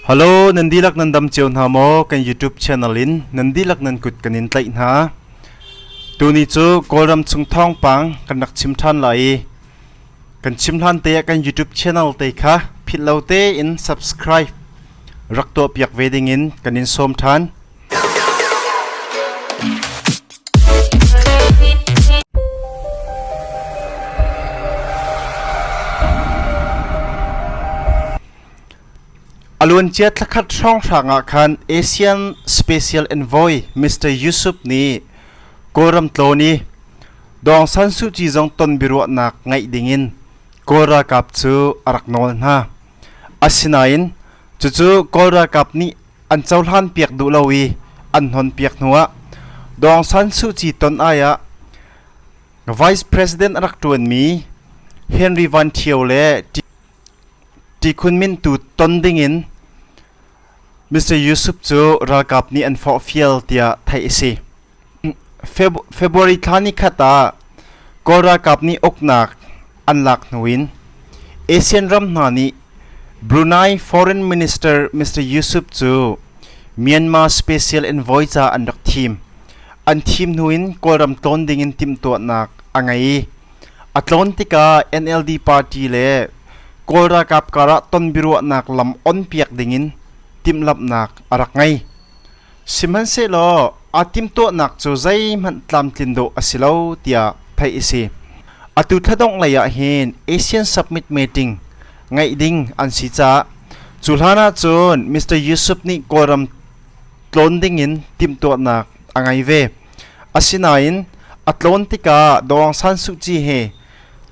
Halo, nan dilak nan dam cio hna maw kan YouTube channel in nan dilak nan kut kan in tlaih hna. Tuni cu Kawlram chung thawngpang kan rak chim than la i kan chim hlan te kan YouTube channel te kha phillo te in subscribe rak to piak ve ding in kan in som than. A luancia thlakhat hrawnghrang ah khan Asian Special Envoy Mr. Yusup nih Kawlram tlawn i Dawng San Suu Kyi zong ton biaruahnak ngaih dingin Kawl ralkap cu a rak nawl hna. Asinain cucu Kawl ralkap nih an cohlan piak duh lo i an hnon piak hnuah Dawng San Suu Kyi ton ai ah Vice President a rak ṭuanmi Henry Van Ṭhio le Tikhun Min tu ton dingin Mr. Yusup cu ralkap nih an forhfial tiah theih a si. February thla ni khat ah Kawl ralkap nih uknak an lak hnu in ASEAN ram hna nih Brunei Foreign Minister Mr Yusuf cu Myanmar special envoy ca an rak thim. An thim hnu in Kawlram tlawn ding in timhtuahnak a ngei i a tlawn tikah NLD party le Kawl ralkap karah tonbiaruahnak lam onpiak ding in timhlamhnak a rak ngei. Sihmanhsehlaw aa timhtuahnak cu zeihmanh tlamtlin dawh a si lo tiah theih a si. Atu thladongh lei ah hin Asian Submit Meeting ngeih ding an si caah cu hlan ahcun Mr. Yusuf nih Kawlram tlawn dingin timhtuahnak a ngei ve. Asinain a tlawn tikah Aung San Suu Kyi he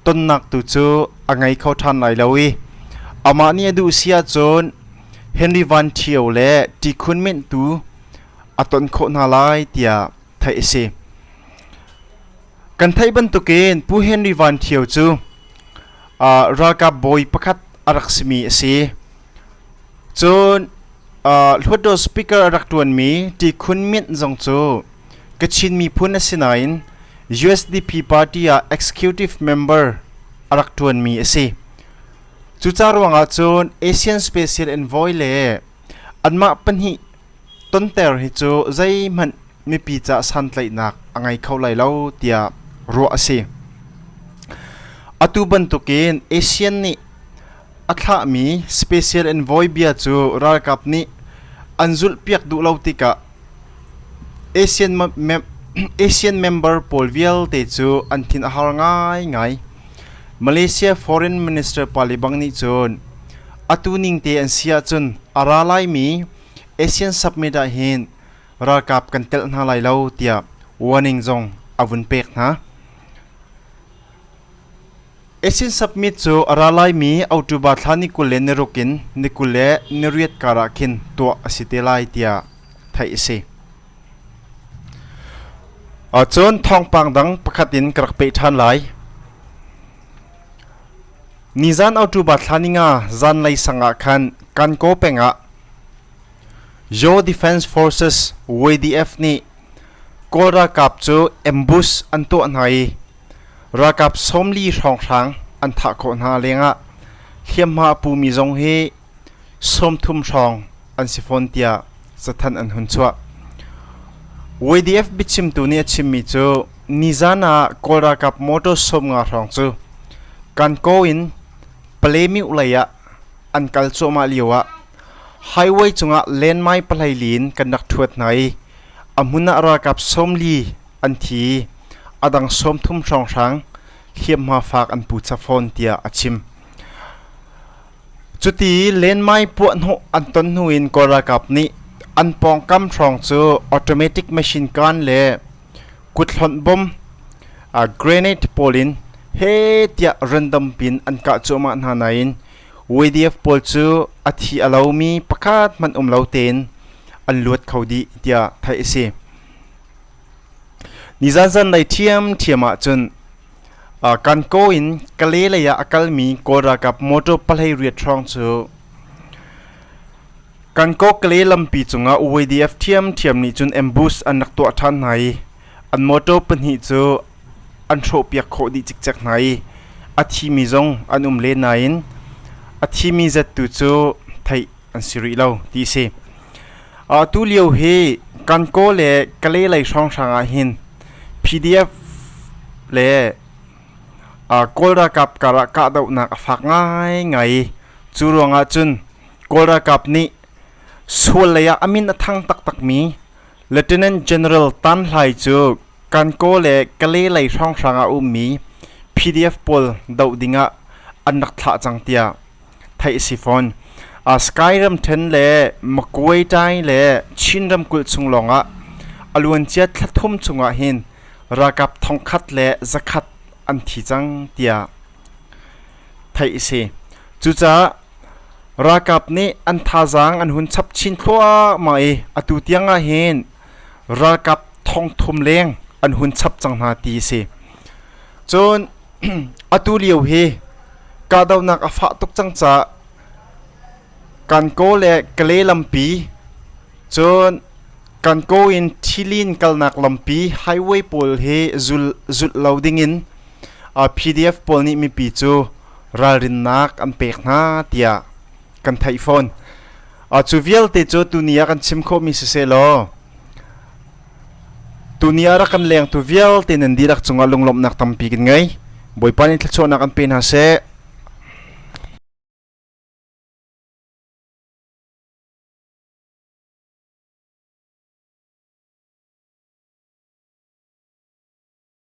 tonnak tu cu a ngei kho ṭhan lai lo i amah nih a duh si ahcun Henry Van Ṭhio le Ṭi Khun Myint tu a ton khawh hna lai tiah theih a si. Kan theih bantukin Pu Henry Van Ṭhio cu uh, ralkap bawi pakhat a rak simi a si. Cun Hluttaw speaker rak ṭuanmi Ṭi Khun Myint zong cu Kachin miphun a si nain USDP party ah executive member a rak ṭuanmi a si. Cuca ruangah cun Asian Special Envoy le anmah pahnih tonter hi cu zeihmanh mipi caah santlaihnak a ngei kho lai lo tiah ruah a si. Atu bantukin ASEAN nih A thlahmi special envoy bia cu ralkap nih an zulhpiak duh lo tikah ASEAN, ASEAN member pawl vialte cu an thin a har ngaingai. Malaysia Foreign Minister pali bang nih cun atu ning te an si ahcun a ra laimi ASEAN submit ah hin ralkap kan telh hna lai lo tiah warning zong a vun pek hna. Asin Submit cu a ra laimi October thla ni kul le ni ruk in ni kul le ni riat kar ah khin tuah a si te lai tiah theih a si. Cun thawngpang dang pakhat in ka rak peh ṭhan lai. Nizan October thla ni nga zanlei sang ah khan Kankaw peng ah Yaw Defence Forces WDF nih Kawl ralkap cu ambush an tuah hna i Ralkap sawmli hrawnghrang an thah khawh hna lengah hliamhma a pumi zong hi sawmthum hrawng an si fawn tiah cathanh an hun chuah. YDF biachimtu nih a chimmi cu nizan ah Kawl ralkap motor sawmnga hrawng cu Kankaw in Palemyuh lei ah an kal cuahmah lio ah highway cungah landmine pahleili in kan rak thuat hna i A hmun ah ralkap sawmli an thi i a dang sawmthum hrawnghrang hliamhma faak an pu chap fawn tiah a chim. Cuti i lenmai puahhnawh an ton hnu in Kawl ralkap nih an pawngkam hrawng cu automatic machine gun le kuthlonh bom uh, grenade pawl in he tiah random pin an kah cuahmah hna nain WADF pawl cu a thi a lomi pakhat hmanh um lo tein an luat kho dih tiah theih a si. Nizan zanlei ṭhiamṭhiam ah cun uh, Kankaw in Kale lei ah a kalmi Kawl ralkap motor pahlei riat hrawng cu Kankaw Kale lampi cungah WADF ṭhiamṭhiam nih cun ambush an rak tuah ṭhan hna i an motor pahnih cu an hrawhpiak khawh dih cikcek hna i a thimi zong an um len nain a thimi zat tu cu theih an si rih lo ti a si. tu lio hi Kankaw le Kalay lei hrawnghrang ah hin PDF le Kawl ralkap karah kahdohnak a fak ngaingai i cu ruangah cun Kawl ralkap nih sual lei ah a min a thang taktakmi Lieutenant General Tan Hlai cu Kankaw le Kalay lei hrawnghrang ah a ummi PDF pawl doh ding ah an rak thlah cang tiah theih a si fawn. Sky ramṭhen le Makuitai le Chin ramkulh chung lawng ah a luancia thla thum chungah hin ralkap thongkhat le zakhat an thi cang tiah theih a si. Cucaah ralkap nih an thazaang an hun chap chin thluahmah i atu tiang ah hin ralkap thongthum leng an hun chap cang hna ti a si cun atu lio hi kahdohnak a fah tuk cang ca Kankaw le Kale lampi cun Kankaw in Thilin kalnak lampi highway pawl hi zul zulh lo dingin PDF pawl nih mipi cu ralrinnak an pek hna tiah kan theih fawn cu vialte cu tuni ah kan chim khawhmi si se law tuni ah rak kan lengtu vialte nan dirak cungah lunglawmhnak tampi kan ngei bawipa nih thluachuahnak an pe hna seh